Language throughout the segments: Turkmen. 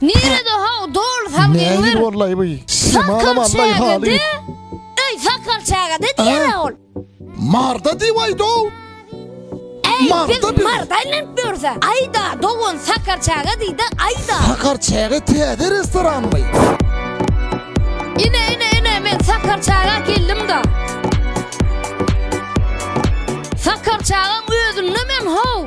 Nirede how doly salgynlar. Näir bollaý bu. Sakal çägede. Öý sakal çägede diýerä ol. Marda diýaý dow. Äý siz marda aýlanyp ýörse. Aýda dowan sakar çäge diýde aýda. Sakar çäge täze restoranmy. Ine ine ine men sakar çäge geldim da. Sakar çägem özünde men how.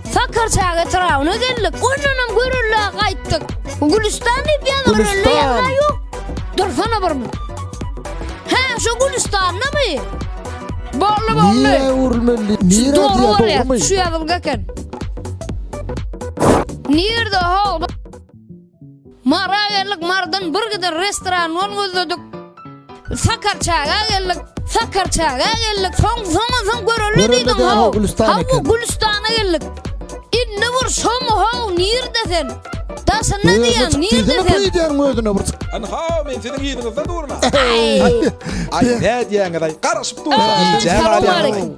Sakar çaga Firawuna geldik. Ondanam görürlä gaýtdyk. Gülistan diýip ýazar ölle ýazar ýok. Dursana bir mut. Hä, şu Gülistanlamy? Bolly bolly. Nire urmeli? Nire Dogry bolýar. Şu ýazylga eken. Nirde hol? Mara geldik, Mardan bir giden restorandan gözledik. Sakarçaga geldik, Sakarçaga geldik. Soň soň soň göreli diýdim. Hawa, Gülüstana, Gülüstana geldik. Indi bir şom haw, nirde sen? Daşynda diýen, nirde sen? Sen diýen gözüne bir. An haw, men seniň ýeriňizde durma. Ay, nädýäňiz ay? Garaşyp durma. Salam aleyküm.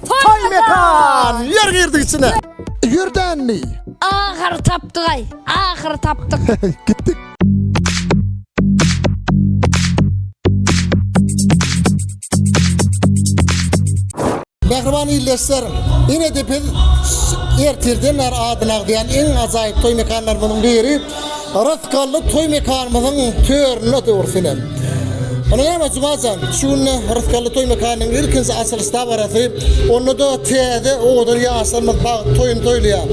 Toý mekan! Ýör girdik içine. Ýör dänli. Ahyry tapdygaý. Ahyry tapdyk. Gitdik. Mähriban ildeşler, ine-de biz ertirden bäri adyny agzaýan iň ajaýyp toý mekanlarynyň biri Yrys Gally toý mekanymyzyň töründe döwürsynem. Ony näme Jumajan, şu günde Yrys Gally toý mekanynyň ilkinji açylyş dabarasy, onda-da täze owadan ýaşlarymyz Pagyt toýuny toýlaýar.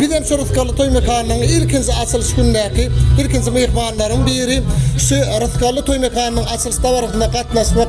Bizem şu Yrys Gally toý mekanynyň ilkinji açylyş günündäki ilkinji myhmanlaryň biri, şu Yrys Gally toý mekanynyň açylyş dabarasynda gatnaşmak